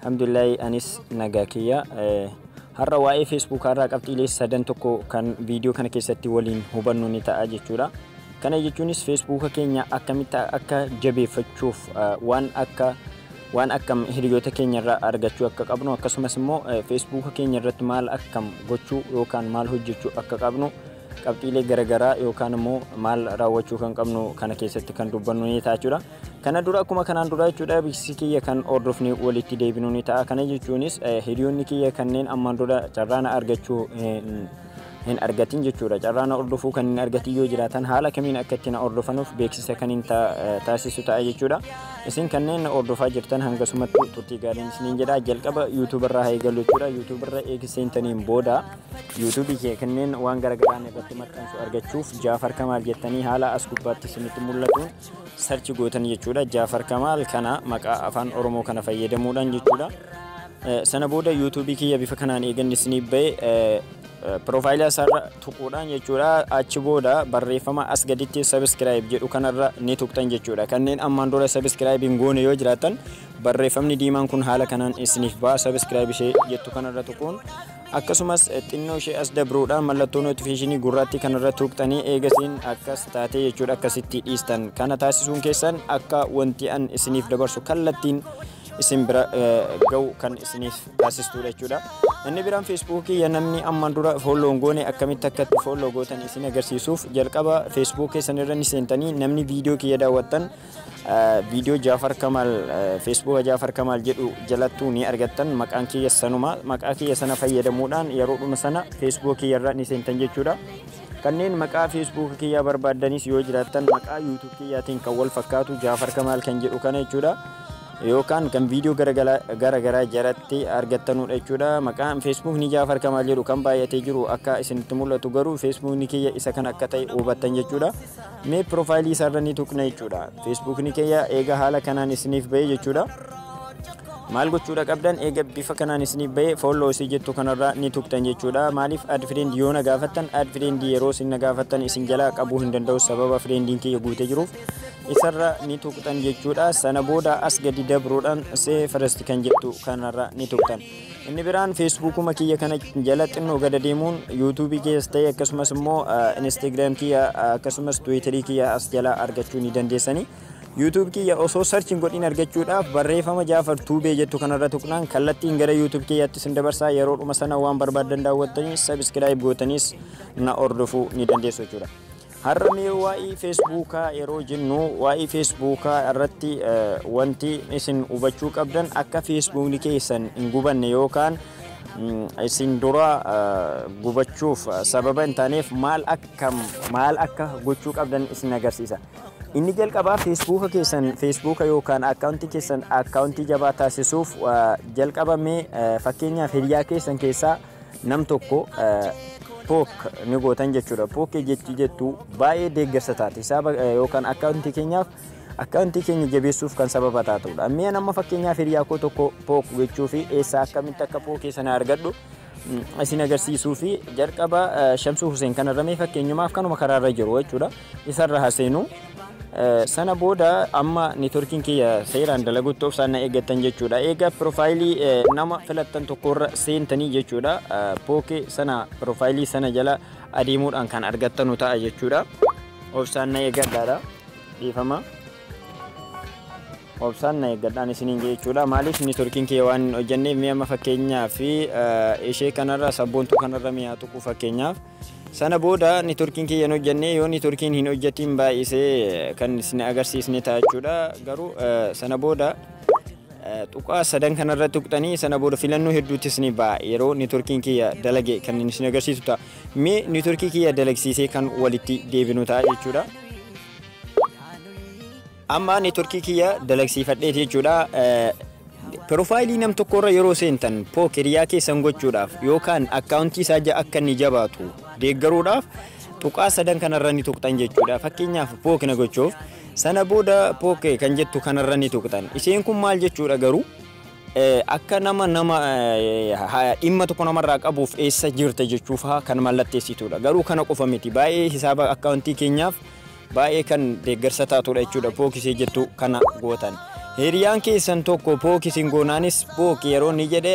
Alhamdulillahi anis nagaa kiyya. Har'a waa'ee Facebook irraa qabxiilee sadan tokko kan viidiyoo kana keessatti waliin hubannu ni ta'a jechuudha. Kana jechuunis Facebook keenya akkamitti akka jabeeffachuuf waan akka waan akkam hiriyoota keenya irraa argachuu akka qabnu akkasumas immoo Facebook keenya irratti maal akkam gochuu yookaan maal hojjechuu akka qabnu qabxiilee garaagaraa yookaan immoo maal raawwachuu kan qabnu kana keessatti kan dubbannu ni ta'a jechuudha. Kana dura akkuma kanaan duraa jechuudha beeksisi kiyya kan hordofni walitti deebinu ni ta'a. Kana jechuunis hiriyoonni kiyya kanneen ammaan dura carraana argachuu hin argatin jechuudha. Carraana hordofuu kan hin argatin yoo jiraatan haala kamiin akka itti na hordofanuuf beeksisa kan hin taasisu ta'a jechuudha. Isin kanneen na hordofaa jirtan hangasumatti turtii gaariin isiniin jedha. Jalqaba YouTube irraa haa eegallu jechuudha. YouTube irra eegi seentaniin booda YouTube kee kanneen waan garagaraan irratti maxxansu argachuuf Jaafar Kamaal jettanii haala as gubbaatti isinitti mul'atuun sarchi gootan jechuudha jaafar kamaal kana maqaa afaan oromoo kana fayyadamuudhaan jechuudha sana booda yuutuubii kiyya bifa kanaan eegan isinii ba'e piroofaayilii isaarra tuquudhaan jechuudha achi booda barreeffama as gaditti sabiskiraayib jedhu kanarra ni tuqxan jechuudha kanneen ammaan dura sabiskiraayib hin goone yoo jiraatan barreeffamni diimaan kun haala kanaan isiniif ba'a sabiskiraayib ishee jettu kanarra tuquun Akkasumas xinnoo ishee as dabruudha mallattoo notifiishinii gurraattii kanarra tuuqxanii eegasiin akkas taatee jechuudha akkasitti dhiistan kana taasisuun keessan akka wanti an isiniif dabarsu kallattiin isin bira ga'u kan isiniif taasistuudha jechuudha. Inni biraan feesbuukii ya namni ammaan dura foolloon goone akkamitti akka itti foolloo gootan isin agarsiisuuf jalqaba feesbuukii sanirra ni seentanii namni viidiyoo kiyya daawwattan Viidiyoo Jaafar Kamaal Feesbuuka Jaafar Kamaal jedhu jalattuu ni argattan. Maqaan kiyya sanuma. Maqaa kiyya sana fayyadamuudhaan yeroodhuma sana Feesbuuka kiyyarra ni seentan jechuudha. Kanneen maqaa Feesbuuka kiyyaa barbaaddanis yoo jiraattan maqaa YouTube kiyyaatiin kan wal fakkaatu Jaafar Kamaal kan jedhu kana jechuudha. Yookaan kan viidiyoo gara garaa jalatti argattanudha jechuudha. Maqaan Feesbuukni Jaafar Kamaal jedhu kan baay'atee jiru akka isinitti mul'atu garuu Feesbuukni kiyya isa kan akka ta'e hubattan jechuudha. mee piroofaayilii isaarra ni tuqna jechuudha feesbuukni kiyya eega haala kanaan isiniif bahee jechuudha maal gochuudha qabdan eega bifa kanaan isiniif bahee fooloo isii jettu kanarraa ni tuqxan jechuudha maaliif ad fireendi yoo na gaafattan ad fireendi yeroo isin na gaafattan isin jalaa qabuu hin danda'u sababa fireendiin kiyya guutee jiruuf isarra ni tuqxan jechuudha sana booda as gadi dabruudhaan see firasti kan jettu kanarra ni tuqxan Inni biraan feesbuukuma kiyya kana jala xinnoo gada deemuun yuutuubii keessa ta'e akkasumas immoo instagram kiyya akkasumas tiwiitarii kiyya as jala argachuu ni dandeessanii. YouTube kiyya osoo sarchiin godhin argachuudhaaf barreeffama Jaafar Tuubee jettu kanarra tuqnaan kallattiin gara YouTube kiyyaatti isin dabarsaa yeroo dhuma sana waan barbaadan daawwattanii sabiskiraayib gootanis na hordofuu ni dandeessu jechuudha. Har'a mee waa'ee Feesbuukaa yeroo jennu waa'ee Feesbuukaa irratti wanti isin hubachuu qabdan akka Feesbuukni keessan hin gubanne yookaan isin dura gubachuuf sababa hin taaneef maal akka maal akka gochuu qabdan isin agarsiisa. Inni jalqabaa Feesbuuka keessan Feesbuuka yookaan akkaawuntii keessan akkaawuntii jabaa taasisuuf jalqabamee fakkeenyaaf hiriyaa keessan keessaa nam tokko pook ni gootan jechuudha. Pookee jechi jettu baay'ee deeggarsa taate. Hisaaba yookaan akkaawuntii keenyaaf akkaawuntii keenya jabeessuuf kan sababa taatudha. Mee amma fakkeenyaaf hiriyaa koo tokko pook gochuu fi eessaa akkamitti akka pookee sana argadhu isin agarsiisuu fi jalqaba Shamsuu Huseen kanarra mee fakkeenyumaaf kanuma karaarra jiru jechuudha. isarra ha seenu sana booda amma networkiin kiyya seeraan dalagutti obsaan na eeggattan jechuudha eega piroofaayilii nama filattan tokkorra seentanii jechuudha pookee sana piroofaayilii sana jala adeemuudhaan kan argattanu ta'a jechuudha obsaan na eeggadhaadha dhiifama obsaan na eeggadhaan isiniin jechuudha maaliif networkiin kiyya waan hin hojjanneef mi'a amma fakkeenyaa fi ishee kanarra sabboontuu kanarra mi'aa tuquu fakkeenyaaf Sana booda networkiin kiyya hin hojjannee yoo networkiin hin hojjatiin baay'isee kan isin agarsiisne ta'a jechuudha garuu sana booda tuqaa sadan kanarra tuqxanii sana booda filannoo hedduuttis ni ba'a yeroo networkiin kiyya dalage kan isin agarsiisu ta'a mee networkii kiyya dalagsiisee kan walitti deebinu ta'a jechuudha. Amma networkii kiyya dalagsiifadheeti jechuudha. Piroofaayilii nam tokko irra yeroo seentan pook hiriyaa keessan gochuudhaaf yookaan akkaawuntii isaa ja- akka inni jabaatu deeggaruudhaaf tuqaa sadan kanarra ni tuqxan jechuudha. Fakkeenyaaf pook na gochuuf sana booda pook kan jettu kanarra ni tuqxan. Isheen kun maal jechuudha garuu Eh, akka nama nama eh, ha- dhimma tokko namarraa qabuuf eessa jirta jechuufaa kan mallatteessitudha. Garuu kana qofa miti. Baay'ee hisaaba akkaawuntii keenyaaf baay'ee kan deeggarsa taatudha jechuudha pookisii jettu kana gootan. Hiriyaan keessan tokko pookisiin goonaanis pook yeroo ni jedhe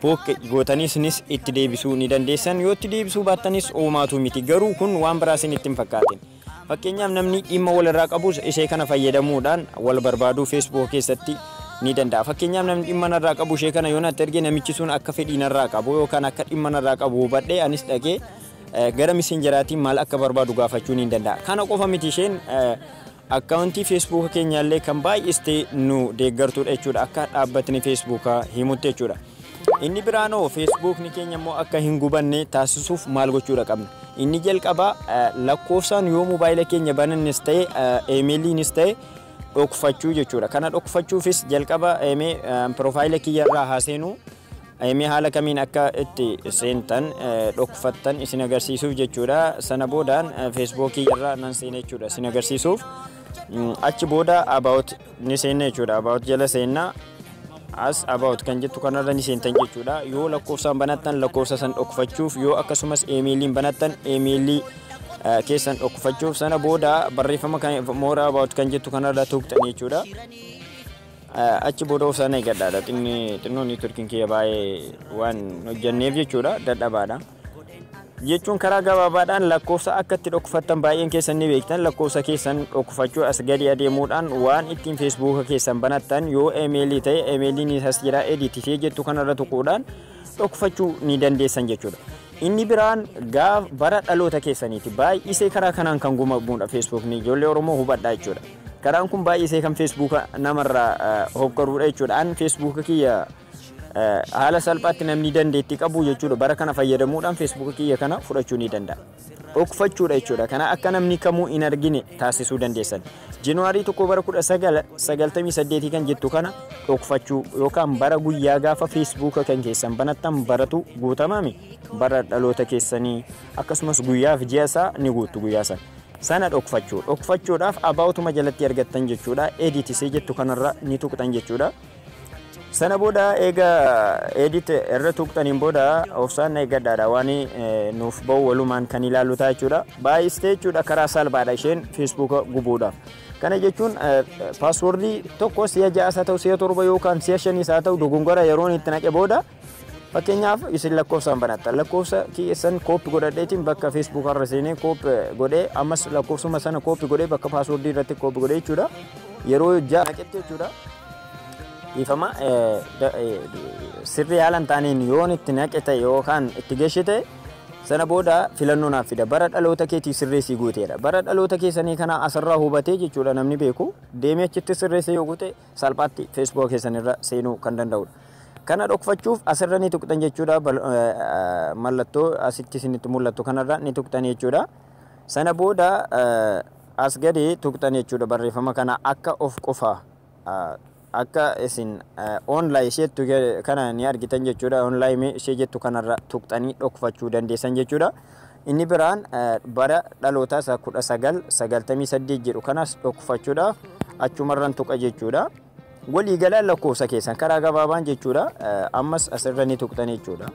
pook gootaniisnis itti deebisuu ni dandeessan yoo itti deebisuu baattanis uumaatu miti garuu kun waan biraa isin ittiin fakkaatin. Fakkeenyaaf namni dhimma walirraa qabus ishee kana fayyadamuudhaan wal barbaaduu feesbuuk keessatti ni danda'a. Fakkeenyaaf namni dhimma narraa qabu ishee kana yoo natti erge namichi sun akka fedhii narraa qabu yookaan akka dhimma narraa qabu hubadhee anis dhaqee Gara messengeraatiin maal akka barbaadu gaafachuu niin danda'a. Kana qofa miti isheen akkaawuntii feesbuuka keenyaallee kan baay'istee nu deeggartuudha jechuudha akka dhaabbatni feesbuukaa himutti jechuudha. Inni biraanoo feesbuukni keenya immoo akka hin gubanne taasisuuf maal gochuudha qabna. Inni jalqabaa lakkoofsaan yoo moobaayila keenya banannes ta'e eemeeliinis ta'e dhokfachuu jechuudha. Kana dhokfachuufis jalqaba piroofaayila kiyyarraa haa seenuu. Mee haala kamiin akka itti seentan dhokfattan isin agarsiisuuf jechuudha. Sana boodaan feesbookii irra nan seena jechuudha isin agarsiisuuf. Achi booda about ni seenna jechuudha. About jala seenna. As about kan jettu kanarra ni seentan jechuudha. Yoo lakkoofsaan banattan lakkoofsa san dhokfachuuf yoo akkasumas eemeeliin banattan eemeelii keessan dhokfachuuf sana booda barreeffama mooraa about kan jettu kanarra tuqxan jechuudha. Achi booda of sana eegadhaadha. Xinni xinnoo niitworkiin kiyya baay'ee waan hojjanneef jechuudha dadhabaadha. Jechuun karaa gabaabaadhaan lakkoofsa akka itti dhokfattan baay'een keessan ni beektan lakkoofsa keessan dhokfachuu as gadi adeemuudhaan waan ittiin feesbuuka keessan banattan yoo emeelii ta'e emeeliin isas jira editifee jettu kanarra tuquudhaan dhokfachuu ni dandeessan jechuudha. Inni biraan gaaf bara dhaloota keessaniiti baay'isee karaa kanaan kan gumamuudha feesbuukni ijoollee Oromoo hubadhaa jechuudha. Karaan kun baay'isee kan feesbuuka namarraa hokkaruudha jechuudha. An feesbuuka kiyya haala salphaatti namni dandeettii qabu jechuudha. Bara kana fayyadamuudhaan feesbuuka kiyya kana fudhachuu ni danda'a. Dhokfachuudha jechuudha. Kana akka namni kamuu hin argine taasisuu dandeessan. Januwaarii 1 bara 1998 kan jettu kana dhokfachuu yookaan bara guyyaa gaafa feesbuuka kan keessan banattan baratu guutamame bara dhaloota keessanii akkasumas guyyaaf ji'a isaa ni guuttu guyyaa sana. sana dhokfachuu dhokfachuudhaaf abaawutuma jalatti argattan jechuudha edit isee jettu kanarra ni tuqxan jechuudha sana booda eega edit irra tuqxaniin booda obsaan na eeggadhaadha waan eh, nuuf ba'u walumaan kan ilaalu ta'a jechuudha baay'istee jechuudha karaa salphaadha isheen feesbuuka gubuudha kana jechuun eh, paaswoordii tokko si'a ja'as haa ta'u si'a torba yookaan si'a shanis haa ta'u dogongora yeroon itti naqe booda Fakkeenyaaf isin lakkoofsaan banattan lakkoofsa keessan kooppi godhadheetiin bakka feesbuuk irra seenee kooppi godhee ammas lakkoofsuma sana kooppi godhee bakka paaswordii irratti kooppi godhee jechuudha. Yeroo ja'a naqetti jechuudha. Dhiifama sirrii haala hin taaneen yoon itti naqe ta'e yookaan itti geeshe ta'e sana booda filannoo naaf fida. Bara dhaloota keetii sirreessii guuteedha. Bara dhaloota keessanii kana asirraa hubatee jechuudha namni beeku deemee achitti sirreessee yoo guute salphaatti Facebook keessan irra seenuu kan danda'udha. Kana dhokfachuuf asirra ni tuqxan jechuudha. Mallattoo asitti isinitti mul'attu kanarra ni tuqxan jechuudha. Sana booda as gadi tuqxan jechuudha barreeffama kana akka of qofa akka isin online ishee jettu kana ni argitan jechuudha. Online ishee jettu kanarra tuqxanii dhokfachuu dandeessan jechuudha. Inni biraan bara dhalootaa isaa 1998 jedhu kanas dhokfachuudha. Achumarran tuqa jechuudha. Walii galaan lakkoofsa keessan karaa gabaabaan jechuudha. Ammas asirra ni tuqxan jechuudha.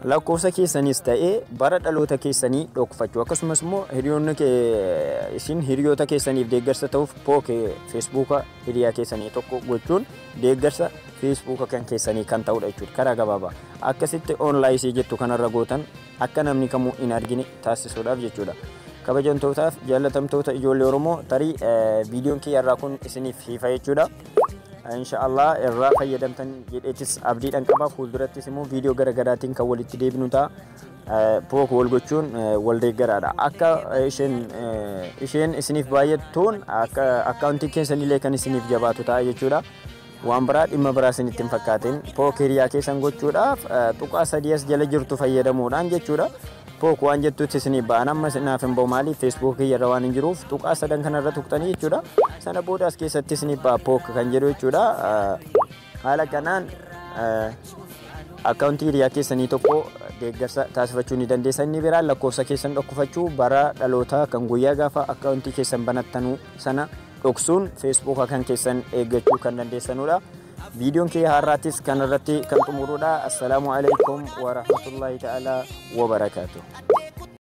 Lakkoofsa keessanis ta'ee bara dhaloota keessanii dhokfachuu akkasumas immoo hiriyoonni isin hiriyoota keessaniif deeggarsa ta'uuf pooke feesbuuka hiriyaa keessanii tokko gochuun deeggarsa feesbuuka kan keessanii kan ta'udha jechuudha karaa gabaabaa akkasitti oonlaayisii jettu kanarra gootan akka namni kamuu hin argine taasisuudhaaf jechuudha kabajamtootaaf jaalatamtoota ijoollee oromoo tarii viidiyoon kiyya irraa kun isiniif hiifa jechuudha inshaallah irraa fayyadamtan jedheetis abdiidhan qaba fuuldurattis immoo viidiyoo gara garaatiin kan walitti deebinu ta'a Pook wal gochuun wal deeggaraadha. Akka isheen isheen isiniif baay'attuun akka akkaawuntiin keessanillee kan isiniif jabaatu ta'a jechuudha. Waan biraa dhimma biraa isinitti hin fakkaatin. Pook hiriyaa keessan gochuudhaaf tuqaa sadii as jala jirtu fayyadamuudhaan jechuudha. Pook waan jettutti isiniif ba'an amma isinaaf hin ba'u maaliif feesbuukii irra waan hin jiruuf tuqaa sadan kanarra tuqxanii jechuudha. Sana booda as keessatti isiniif ba'a pook kan jedhu jechuudha. Haala kanaan akkaawuntii hiriyaa keessanii tokko deeggarsa taasifachuu ni dandeessa. Inni biraan lakkoofsa keessan dhokkufachuu bara dhalootaa kan guyyaa gaafa akkaawuntii keessan banattanuu sana dhoksuun feesbuuk akkan keessan eeggachuu kan dandeessanudha. Viidiyoon kee har'aattis kan irratti kan xumurudha. Assalaamu alaikum wa rahmatullahi ta'ala wa barakaatuh.